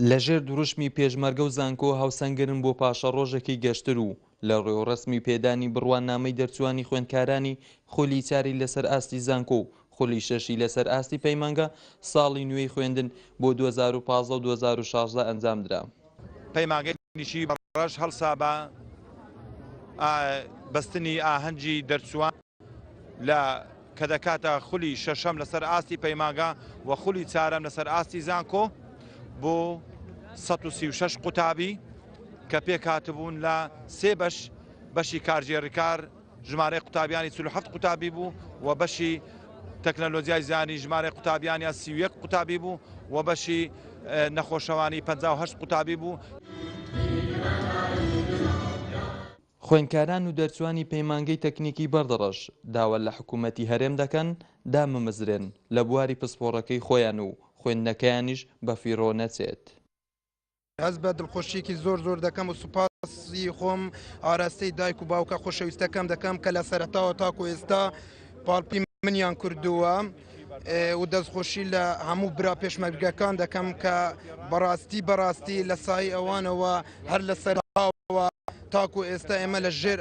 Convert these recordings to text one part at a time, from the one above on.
لە ژێر دروشمی پێشمەرگە و زانکۆ هاوسەنگرن بۆ پاشەڕۆژێکی گەشتر و لە ڕێوڕەسمی پێدانی بڕوانامەی دەرچووانی خوێندکارانی خولی چاری لەسەر ئاستی زانکۆ و خولی شەشی لەسەر ئاستی پەیمانگە ساڵی نوێی خوێندن بۆ 2015 و 2016 ئەنجام درا. پەیمانگەی نیشی بەڕەش هەڵسا بە بەستنی ئاهەنگی دەرچووان. لە کە دەکاتە خولی شەشەم لەسەر ئاستی پەیمانگا و خولی چارەم لەسەر ئاستی زانکۆ بۆ 136 قوتابی کە پێکاتبوون لە سێ بەش بەشی کارژێڕکار ژمارە قوتابیانی 47 قوتابی بوو و بەشی تەکنەلۆجیای زیانی ژمارە قوتابیانیان سیویەک قوتابی بوو و بەشی نەخۆشەوانی 5 قوتابی بوو. خوێندکاران و دەرچوانی پەیمانگەی تەکنیکی بەردەڕەش داوا لە حکوومەتی هەرێم دەکەن دابمەزرێن لە بواری پسپۆڕەکەی خۆیان و خوێندنەکەیانیش بەفیڕۆ نەچێت. هەست بە دڵخۆشییەکی زۆر زۆر دەکەم و سوپاسی خۆم ئاراستەی دایک و باوکە خۆشەویستەکەم دەکەم کە لە سەرەتاوە تاکوو ئێستا پاڵپی منیان کردووە. و دەستخۆشی لە هەموو برا پێشمەرگەکان دەکەم کە بەڕاستی بەڕاستی لە سای ئەوانەوە هەر لە سەرەوە تاکو ئێستا ئێمە لە ژێر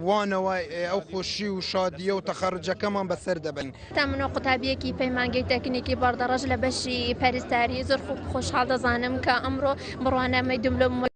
وانەوە ئەو خۆشی و شادیە و تەخەرجەکەمان بەسەر دەبن تا منۆ قوتابیەکی پەیمانگەی تەکنیکی بەڕدەڕەش لە بەشی پەرستاری زۆر خۆشحاڵ دەزانم کە ئەمڕۆ بڕوانامەی دبلۆم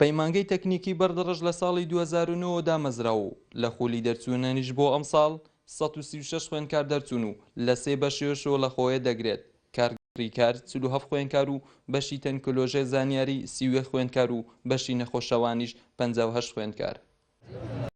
پەیمانگەی تەکنیکی بەردڕژ لە ساڵی دوو هەزار و نۆ وە دامەزرا و لە خولی دەرچوونەنیش بۆ ئەمساڵ سەد و سی و شەش خوێندکار دەرچوون و لە سێ بەشێشۆ لە خۆێ دەگرێت، کارگێڕی کار چل و هەفت خوێنکار و بەشی تەنکلۆژێ زانیاری سی و یەک خوێندکار و بەشی نەخۆشەوانیش پەنجا و هەشت خوێندکار.